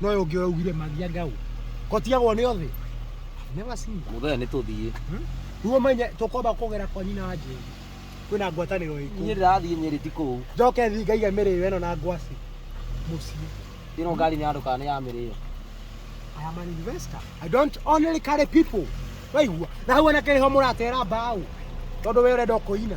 no yo ngio ugire magia ngau kotiagwo ni othi never seen that muthenya nä tå thiä ruo menye tukomba kugera kwa nyina wa njeri kwina ngwataniro niä iku ndä rathiä nyä rä ti kå u njoke thi ngaige mĩrĩo ĩno na ngwaci mũciĩ ä no ngari nä andå kana nä ya mä rä yo I am an investor. I don't only carry people. Waigua. Na hau anake nĩho mũratera mbaũ. Tondũ we ũrenda kũina.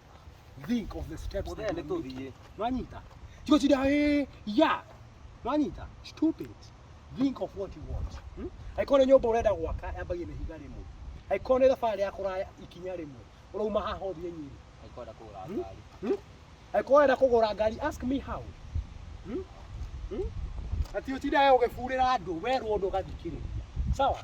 Think of the steps Mũthee that nĩ you are making. tũthiĩ. Nĩwanyita? Tiga ũcinde, "Ĩĩ, ya." Nĩwanyita? Stupid. Think of what you want. Hmm? Angĩkorwo nĩ nyũmba ũrenda gwaka yambagie na ihiga rĩmwe. Angĩkorwo nĩ thabarĩ ya kũraya ikinya rĩmwe. Ũrauma haha ũthiĩ Nyeri. Aikwenda kũgũra Hmm? ngari. Hmm? Angĩkorwo wenda kũgũra ngari, ask me how. Hmm? Hmm? Ati ũtindaga ũgĩburĩra andũ, werwo ũndũ ũgathikĩrĩria. Sawa?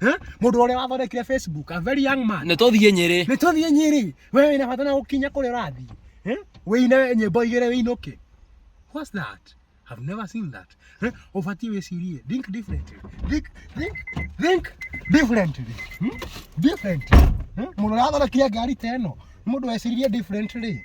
Eh? Mũndũ ũrĩa wathondekire Facebook, a very young man. Nĩ tũthiĩ Nyĩrĩ. Nĩ tũthiĩ Nyĩrĩ. Wewe wĩna bata na gũkinya kũrĩa ũrathiĩ. Eh? Wĩine nyĩmbo igĩrĩ wĩinũke. What's that? I've never seen that. Eh? Ũbatiĩ wĩcirie. Think differently. Think, think, think differently. Hmm? Differently. Eh? Mũndũ ũrĩa wathondekire ngari ta ĩno. Mũndũ wecirie differently.